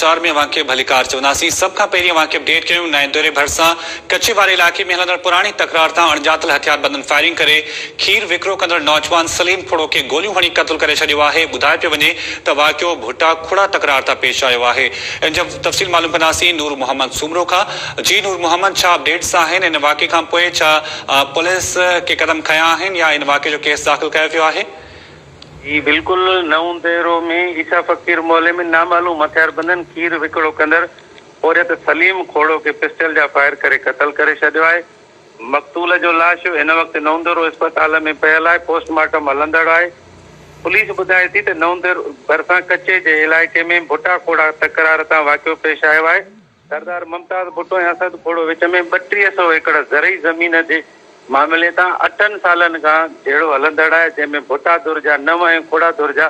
چار ۾ اوهان کي ڀليڪار چونداسين. سڀ کان پهرين اوهان کي اپ ڊيٽ ڪيون نائين دوري ڀرسان ڪڇي واري علائقي ۾ هلندڙ پراڻي تڪرار تان اڻڄاتل هٿياربندن فائرنگ ڪري کير وڪرو ڪندڙ نوجوان سليم کوڙو کي گوليون هڻي قتل ڪري ڇڏيو آهي ٻڌايو پيو وڃي ته واقعو ڀٽا کوڙا تڪرار تان پيش آيو آهي ان جي تفصيل معلوم ڪنداسين نور محمد سومرو کان جي نور محمد ڇا اپ ڊيٽس آهن ان واقعي کانپوء ڇا پوليس ڪي قدم کنيا آهن يا ان واقعي جو ڪيس داخل ڪيو ويو آهي. هي بلڪل نئون ديرو ۾ عيسيٰ فقير محلي ۾ نامعلوم هٿياربندن کير وڪڙو ڪندڙ پورهيت سليم کوڙو کي پسٽل جا فائر ڪري قتل ڪري ڇڏيو آهي. مقتول جو لاش هن وقت نئونديرو اسپتال ۾ پيل آهي، پوسٽ مارٽم هلندڙ آهي. پوليس ٻڌائي ٿي ته نئونديرو ڀرسان ڪچي جي علائقي ۾ ڀٽا کوڙا تڪرار تان واقعو پيش آيو آهي. سردار ممتاز ڀٽو ۽ اسد کوڙو وچ ۾ ٻٽيهه سؤ ايڪڙ زرعي زمين جي معاملي تان اٺن سالن کان جهيڙو هلندڙ آهي، جنهن ۾ ڀٽا ڌر جا نو ۽ کوڙا ڌر جا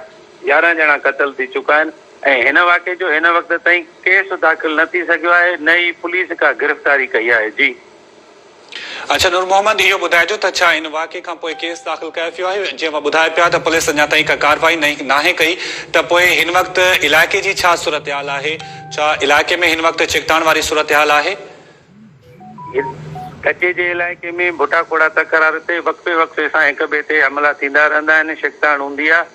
يارهن ڄڻا قتل ٿي چڪا آهن ۽ هن واقعي جو هن وقت تائين ڪيس داخل نه ٿي سگهيو آهي نه ئي پوليس ڪا گرفتاري ڪئي آهي. جي. اچا نور محمد اهو ٻڌائجو ته ڇا ان واقعي کان پوء ڪيس داخل ڪيو ويو آهي جنهن مان ٻڌايو پيو آهي ته پوليس اڃا تائين ڪا ڪارروائي ناهي ڪئي ته پوء هن وقت علائقي جي ڇا صورتحال آهي ڇا علائقي ۾ هن وقت ڇڪتاڻ واري صورتحال آهي. ڪچي جي علائقي ۾ ڀٽا کوڙا تڪرار تي وقفي وقفي سان هڪ ٻئي تي حملا ٿيندا رهندا آهن ڇڪتاڻ هوندي آهي.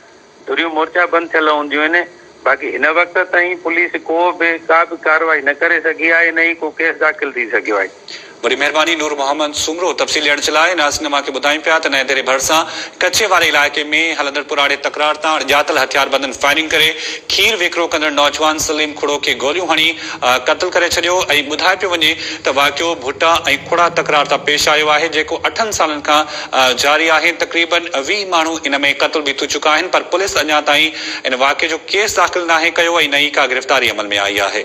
ڌريون مورچا بند ٿيل هونديون آهن، باقي هن وقت تائين پوليس ڪو به ڪا به ڪارروائي نه ڪري سگهي آهي نه ئي ڪو ڪيس داخل ٿي سگهيو آهي. وڏي مهرباني نور محمد سومرو تفصيل ڏيڻ جي لاء ناز سنڌ مان کي ٻڌائين پيا ته نئين ديري ڀرسان ڪڇي واري علائقي ۾ هلندڙ پراڙي تڪرار تان اڻڄاتل هٿياربندن فائرنگ ڪري کير ويڪرو ڪندڙ نوجوان سليم کڙو کي گوليون هڻي قتل ڪري ڇڏيو ۽ ٻڌايو پيو وڃي ته واقعو ڀٽا ۽ کڙا تڪرار تان پيش آيو آهي جيڪو اٺن سالن کان جاري آهي، تقريبن ويهه ماڻهو ان ۾ قتل به ٿو چڪا آهن پر پوليس اڃا تائين ان واقعي جو ڪيس داخل ناهي ڪيو ۽ نه ئي ڪا گرفتاري عمل ۾ آئي آهي.